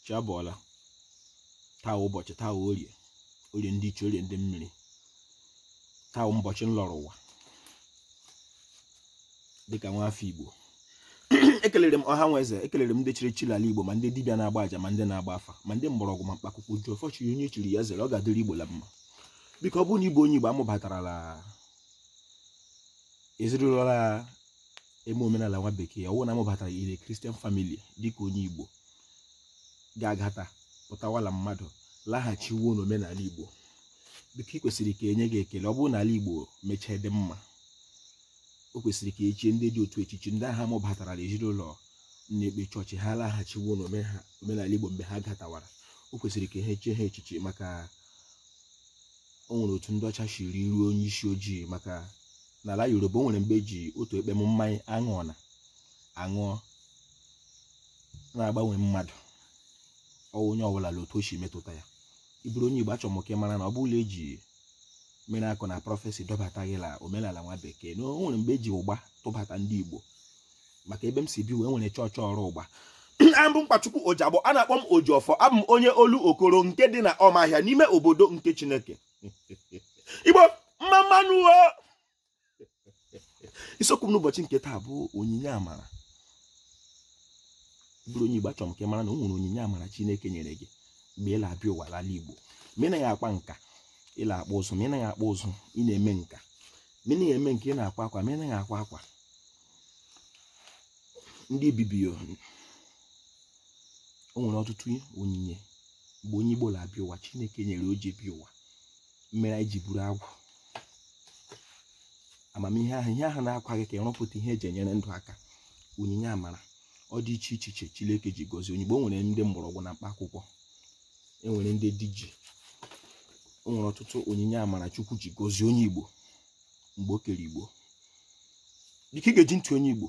chi abọọla taa ụbọchị taa orie orie ndị iche orie ndị mmiri taa ụbọchị nlọrọ ụwa dịka nwa afọ igbo ekelere m ọha na eze ekelere m ndị chiri chiri ala igbo ma ndị dibịa na-agba aja ma ndị na-agba afa ma ndị mgbọrọgwụ ma mkpa akwụkwọ ji ọfọ chiri onye chiri ya zere ọ ga-adịrị igbo la mma biko ọ bụrụ na ị bụ onye igbo amụbatara la ezinụlọ la eme omenala nwa bekee ọ wụ na amụbatara ị na christian family dịka onye igbo ga-agata pụtawala mmadụ laghachiwo n'omenala igbo biko ị kwesịrị ka enye gị ekele ọ bụrụ na ala igbo mechaa dị mma o kwesịrị ka echie ndị dị otu echichi ndị ahụ amụbatara na ezinụlọ na-ekpe chọọchị ha laghachiwo n'omenala igbo mgbe ha gatawara o kwesịrị ka ha echie ha echichi maka o nwere otu ndị ọcha shiri ruo onye isi ojii maka n'ala yoruba o nwere mgbe eji otu ekpem mmanya aṅụọ na aṅụọ na-agbanwe mmadụ ọ wụ onye ọbụla la otu o si metụta ya ị bụrụ onye Igbo achọrọ m ka ị mara na ọ bụ la eji miracle na prophecy dọbata gị la omenala nwa bekee na o nwere mgbe eji ụgba tụbata ndị Igbo maka ebe m si bịa e nwere chọọchị ọrụ ụgba abụ m nkwachukwu ojagbo a na-akpọ m ojiọfọ abụ m onye olokoro nke dị na ọmahịa n'ime obodo nke chineke igbo mma mma nụ isiokwu m n'ụbọchị nke taa bụ onyinye amara ị bụrụ onye Igbo achọrọ m ka ị mara na o nwere onyinye amara Chineke nyere gị mgbe ị na-abịa ụwa l'ala Igbo ma ị naghị akpa nka ị na-akpụ ụzụ ma ị naghị akpụ ụzụ ị na-eme nka ma ị naghị eme nka ị na-akwa akwa ma ị naghị akwa akwa ndị bibi o nwere ọtụtụ onyinye mgbe onye Igbo na-abịa ụwa Chineke nyere o ji bịa ụwa mere anyị ji buru agwụ amamihe ahụ ihe ahụ na-akwa gị ka ị rụpụta ihe eji enyere ndụ aka onyinye amara ọ dị iche iche iche Chineke ji gọzie onye Igbo o nwere ndị mgbọrọgwụ na mkpa akwụkwọ enwere ndị diji o nwere ọtụtụ onyinye amara Chukwu ji gọzie onye Igbo mgbe o kere Igbo dịka ị ga-eji ntị onye Igbo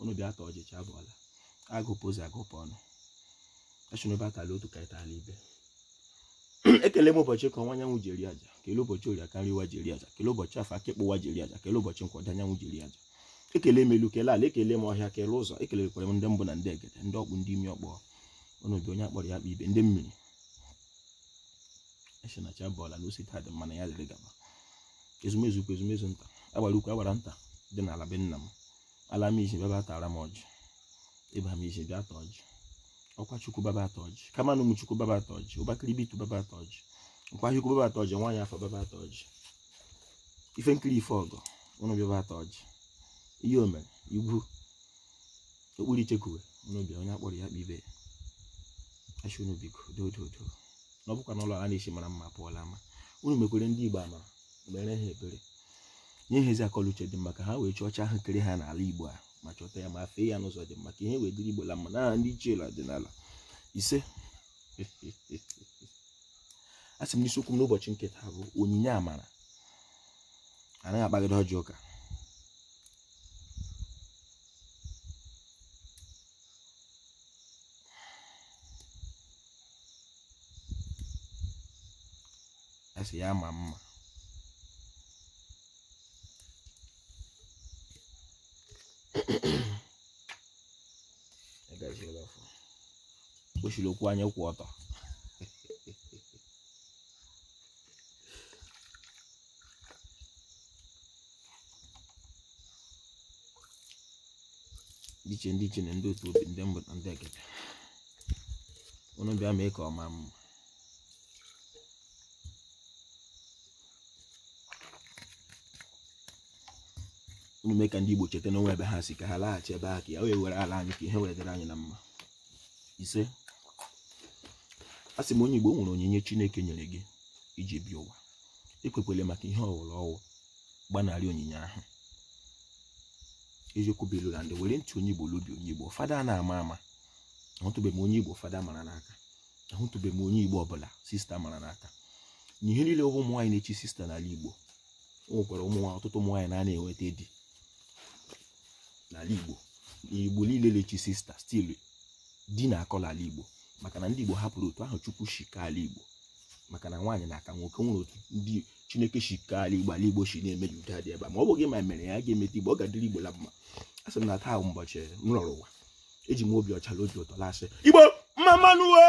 unu bịa taa ọjị chi abọọla agụpụ ụzọ agụpụ ọnụ achụnụba atala otu ka anyị tala ibe ekele m ụbọchị eke ọwụwa anyanwụ jiri aja kele ụbọchị orie ọkara ụwa jiri aja kele ụbọchị afọ akụkụ ụwa jiri aja kele ụbọchị nkwọ ọdịda anyanwụ jiri aja ekele m elu kele ala ekele m ọhịa kele ụzọ ekelekwara m ndị mbụ na ndị egede ndị ọkpụ ndị ime ọkpụ unu bịa onye akpọrọ ya akpọ ibe ndị mmiri eche na chi abọọla na o si taa dị mma na ya dịrị gaba ezumezu ukwu ezumezu nta agbara ukwu agbara nta dị n'ala be nna m ala m si bịa bịa taara m ọjị ebe m si bịa taa ọjị ọkwa chukwu bịa bịa taa ọjị kama na ụmụ chukwu bịa bịa taa ọjị ụbakịrị bitu bịa bịa taa ọjị nkwa chukwu bịa bịa taa ọjị nwaanyị afọ bịa bịa taa ọjị ife nkiri ife ọgọ unu bịa bịa taa ọjị ihe o mere igwu okpuru ichekuwe unu bịa onye a kpọrọ ya kpọọ ibe ya asị unu biko dododo na ọ bụkwa na ụlọ a na-esi mara mma pụọ la ama unu mekwere ndị igbo amara mere ha ebere nye ha ezi akọ l'uche dị mma ka ha wee chọọ chi ahụ kere ha n'ala igbo a ma chọta ya ma fee ya n'ụzọ dị mma ka ihe wee dịrị igbo la mma na ndị ichie ọdịnala ise a sị m na isiokwu m n'ụbọchị nke taa bụ onyinye amara anaghị akpagide ọjị ụka asị ya maa mma kpochiri okwu anya kwụ ọtọ dị iche ndị ichie na ndị otu obi ndị mbụ na ndị egede unu bịa mee ka ọ maa mma unu mee ka ndị Igbo cheta na o nwe ebe ha si ka ha laghachi ebe ha ka ya wee were ala anyị ka ihe wee dịrị anyị na mma ise a sị m onye Igbo nwere onyinye Chineke nyere gị i ji bịa ụwa ekwekwele maka ihe ọwụla ọ wụ gbanarị onyinye ahụ eziokwu bụ ilu na ndị were ntị onye Igbo lobi onye Igbo fada a na-ama ama ahụtụbeghị m onye Igbo fada mara n'aka ahụtụbeghị m onye igbo ọbụla sista mara n'aka na ihe niile ụmụ nwaanyị na-echi sista n'ala igbo o nwekwara ụmụ nwaanyị ọtụtụ ụmụ nwaanyị na-ana enweta di n'ala igbo igbo niile na-echi sista still di na-akọ n'ala igbo maka na ndị igbo hapụrụ otu ahụ chukwu si kee ala igbo maka na nwaanyị na-aka nwoke nwere otu ndị chineke si kee ala igbo ala igbo si na-eme ya udo adị ebe a ma ọ bụghị ma mere ya ga-emeta igbo ọ ga-adịrị igbo la mma a sị m na taa bụ ụbọchị m lọrọ ụwa eji m obi ọcha na obi ụtọ la-asị igbo mma mma nụ o